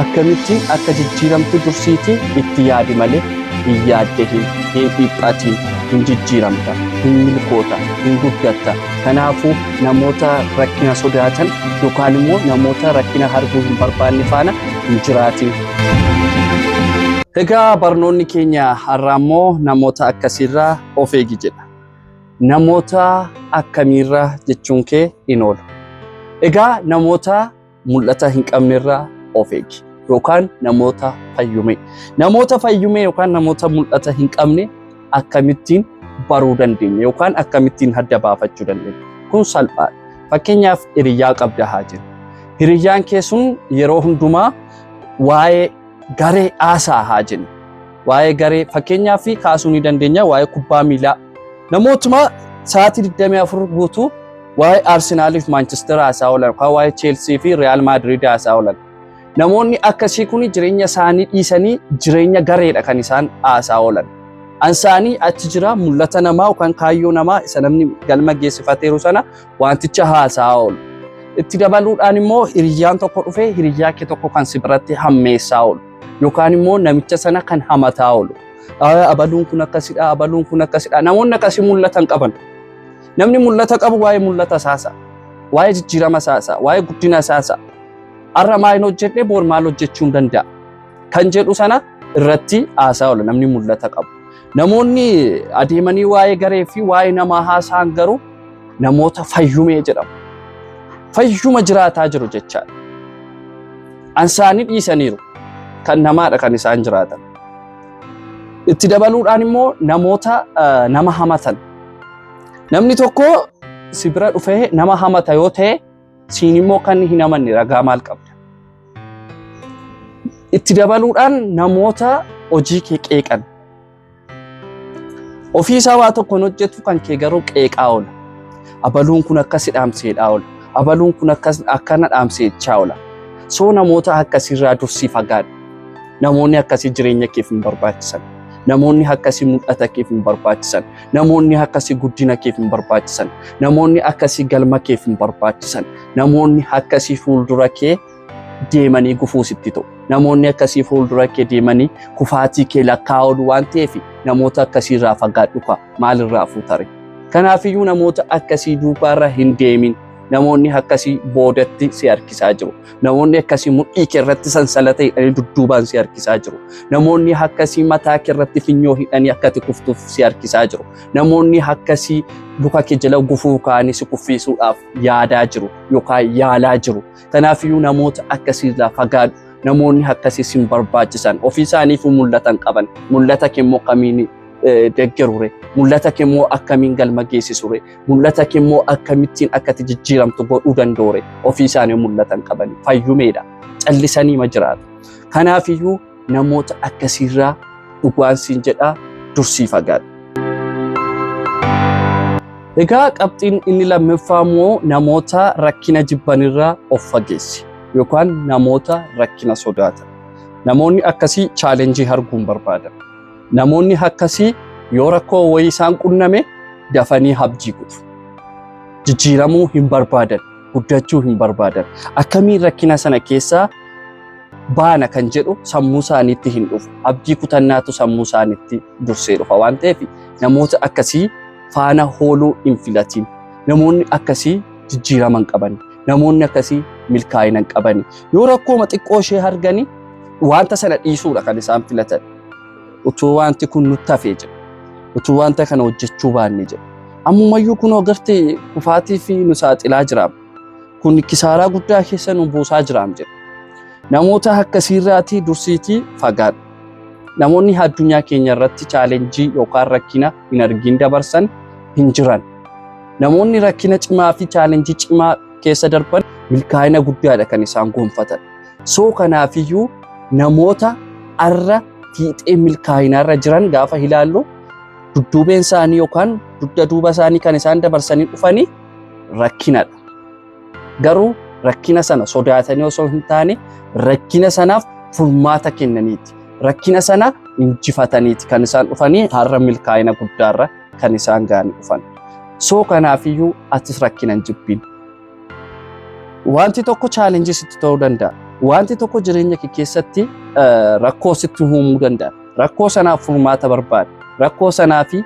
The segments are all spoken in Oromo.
Akkamitti akka jijjiiramtu dursiiti itti yaadi malee hin yaaddahin, hin dhiphatin, hin jijjiiramta, hin milkoota, hin guddatta. Kanaafuu namoota rakkina sodaatan yookaan immoo namoota rakkina arguu hin barbaanne faana hin jiraatin. Egaa barnoonni keenya har'aa immoo namoota akkasiirraa of eegi jedha. Namoota akkamiirra jechuun kee in oola. Egaa namoota mul'ata hin qabnerraa of eegi yookaan namoota fayyumee. Namoota fayyumee yookaan namoota mul'ata hin qabne akkamittiin baruu dandeenya yookaan akkamittiin adda baafachuu dandeenya. Kun salphaadha. Fakkeenyaaf hiriyaa qabda haa jennu. Hiriyyaan kee sun yeroo hundumaa waa'ee garee haasaa haa jennu. Waa'ee garee fakkeenyaa fi kaasuu ni dandeenya waa'ee kubbaa miilaa. Namootuma sa'aatii 24 guutuu waa'ee Arsenaalii fi Maanchester haasaa oolan yookaan waa'ee Cheelsii fi Riyaal Maadiriid haasaa oolan. Namoonni akkasii kun jireenya isaanii dhiisanii jireenya gareedha kan isaan haasaa oolan. Ansaanii achi jira mul'ata namaa yookaan kaayyoo namaa isa namni galma geessifateeru sana wanticha haasa'aa oolu. Itti dabaluudhaan immoo hiriyyaan tokko dhufee hiriyyaa kee tokko kan si biratti hammeessaa oolu yookaan immoo namicha sana kan hamataa oolu. "Aa, Abaluun kun akkasidha, abaluun kun akkasidha. Namoonni akkasii mul'atan qaban. Namni mul'ata qabu waa'ee mul'ata isaasa, waa'ee jijjiirama isaasa, waa'ee guddina isaasa. Har'a maal hin hojjenne boor maal hojjechuu hin danda'a kan jedhu sana irratti haasaa oola namni mul'ata qabu. Namoonni adeemanii waa'ee garee fi waa'ee namaa haasa'an garuu namoota fayyumee jedhamu. Fayyuma jiraataa jiru jechaadha. Ansaanii dhiisaniiru. Kan namaadha kan isaan jiraatan. Itti dabaluudhaan immoo namoota eh, nama hamatan. Namni tokko si bira dhufee nama hamata yoo ta'e Siin immoo kan hin amanne ragaa maal qabda? Itti dabaluudhaan namoota hojii kee qeeqan. Ofii isaa waa tokkoon hojjetu kan kee garuu qeeqaa oola. Abaluun kun akkas dhaamseedhaa oola. Abaluun kun akkas akkana dhaamseechaa oola. Soo namoota akkasiirraa dursii fagaadhu. Namoonni akkasii jireenya keef hin barbaachisan. Namoonni akkasii mul'ata keef hin barbaachisan. Namoonni akkasii guddina keef hin barbaachisan. Namoonni akkasii galma keef hin barbaachisan. Namoonni akkasii fuuldura kee deemanii gufuu sitti ta'u. Namoonni akkasii fuuldura kee deemanii kufaatii kee lakkaa'uun waan ta'eef namoota akkasii irraa fagaadhu kaa maalirraa fuutare. Kanaafiyyuu namoota akkasii duubaarra hin deemin. Namoonni akkasii boodatti si harkisaa jiru. Namoonni akkasii mudhii kee irratti sansalata hidhanii dudduubaan si harkisaa jiru. Namoonni akkasii mataa kee irratti finyoo hidhanii akka ati kuftuuf si harkisaa jiru. Namoonni akkasii luka kee jala gufuu kaanii si kuffiisuudhaaf yaadaa jiru yookaan yaalaa jiru. Kanaafiyyuu namoota akkasii irraa fagaadhu. Namoonni akkasii sin barbaachisan ofii isaaniif mul'atan qaban mul'ata kee immoo akkamiin deggerure mul'ata kee immoo akkamiin galma geessisure mul'ata kee immoo akkamittiin akka itti jijjiiramtu godhuu danda'ure ofii isaanii mul'atan qaban fayyumeedha callisanii ma jiraatu. Kanaaf iyyuu namoota akkasiirraa dhugaan siin jedhaa dursii fagaadha. Egaa qabxiin inni lammaffaa immoo namoota rakkina jibbanirraa of fageessi yookaan namoota rakkina sodaatan. Namoonni akkasii chaalenjii arguun barbaadan. Namoonni akkasii yoo rakkoo wayii isaan qunname dafanii habjii kutu. Jijjiiramuu hin barbaadan, guddachuu hin barbaadan. Akkamiin rakkina sana keessaa baana kan jedhu sammuu isaaniitti hin dhufu. Abdii kutannaatu sammuu isaaniitti dursee dhufa waan ta'eef namoota akkasii faana hooluu hin filatiin. Namoonni akkasii jijjiirama hin qabani. Namoonni akkasii milkaa'ina hin qabani. Yoo rakkooma xiqqoo ishee argani wanta sana dhiisuudha kan isaan filatan. utuu wanti kun nutti hafee jedhe utuu wanta kana hojjechuu baanne jedhe ammumayyuu kunoo garte kufaatii fi nu saaxilaa jiraam kun kisaaraa guddaa keessa nu buusaa jiraam jedhe namoota akkasiirraatii dursiitii fagaadha namoonni addunyaa keenya irratti chaalenjii yookaan rakkina hin argin dabarsan hin jiran namoonni rakkina cimaa fi chaalenjii cimaa keessa darban milkaa'ina guddaadha kan isaan gonfatan Soo kanaafiyyuu namoota arra fiixee milkaa'inaarra jiran gaafa ilaallu dudduubeen isaanii yookaan dugda duuba isaanii kan isaan dabarsanii dhufanii rakkinadha. Garuu rakkina sana sodaatanii osoo hin taane rakkina sanaaf furmaata kennaniiti. Rakkina sana injifataniiti kan isaan dhufanii har'a milkaa'ina guddaarra kan isaan ga'anii dhufan. Soo kanaafiyyuu atis rakkina hin jibbiin. Wanti tokko chaalenjii sitti ta'uu danda'a. Wanti tokko jireenya kee keessatti eh, rakkoo sitti uumuu danda'a. Rakkoo sanaaf furmaata barbaada. Rakkoo sanaa fi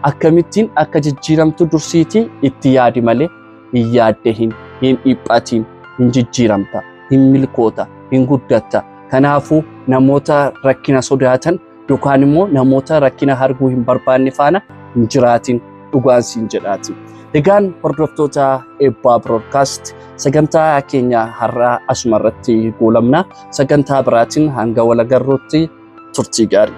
akkamittiin akka jijjiiramtu dursiitii itti yaadi malee hin yaadde hin hin dhiphatiin hin jijjiiramta hin milkoota hin guddatta. Kanaafuu namoota rakkina sodaatan yookaan immoo namoota rakkina arguu hin barbaanne faana hin jiraatin dhugaan siin jedhaati. Egaan hordoftoota eebbaa broodkaast sagantaa keenya har'aa asuma irratti goolabna. Sagantaa biraatiin hanga wal agarruutti turtii gaarii.